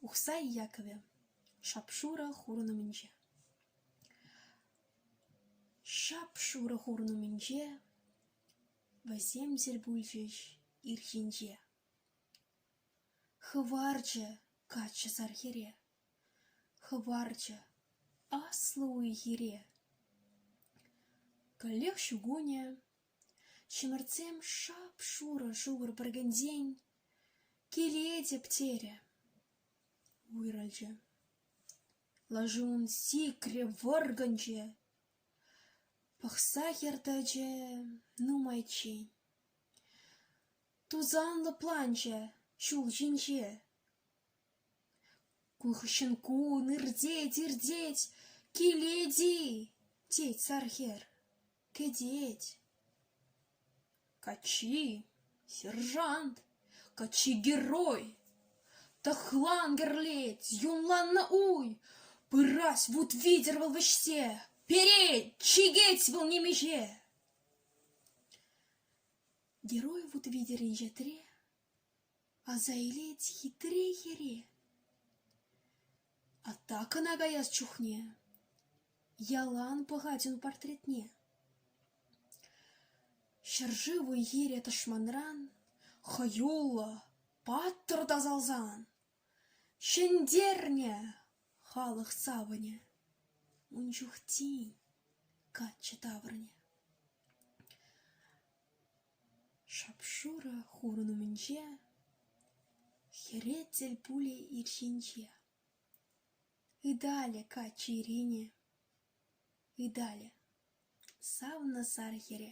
Ухсай Яковӗ, шап-шурӑ хурӑн умӗнче. Шап-шурӑ хурӑн умӗнче вӗсемсӗр пулчӗҫ ирхинче. Хӑварчӗ каччӑ сар хӗре, хӑварчӗ аслӑ уй-хире. Каллех ҫу кунӗ, ҫӗмӗртсем шап-шурӑ шухӑр пӗркенсен Килетӗп терӗ. уйрӑлчӗ. Лаши ун сикрӗ, вӑркӑнчӗ. Пӑхса хӗр тӑчӗ нумайччен. Тусанлӑ планчӗ ҫул ҫинче. Ку хыҫҫӑн кун иртет, иртет, килет-и? тет сар хӗр. Кӗтет! Каччи — сержант, каччи — герой! Тӑхлан кӗрлет, юнланнӑ уй! Пырать вут витӗр вӑл вӗҫсе, перет, чикет вӑл нимӗҫе! Герой вут витӗр инҫетре Аса илет хитре хӗре. Атта кӑна каяс чухне ялан пӑхать ун портретне. Ҫӗршыв уй-хире тӑшманран хӑюллӑ, паттӑр тасалсан ҫӗнтернӗ халӑх савӑнӗ. Ун чух тин каччӑ таврӑнӗ. Шап-шурӑ хурӑн умӗнче, хӗре тӗл пулӗ ирҫинче. Ыталӗ каччӑ ирене, ыталӗ, савнӑ сар хӗре.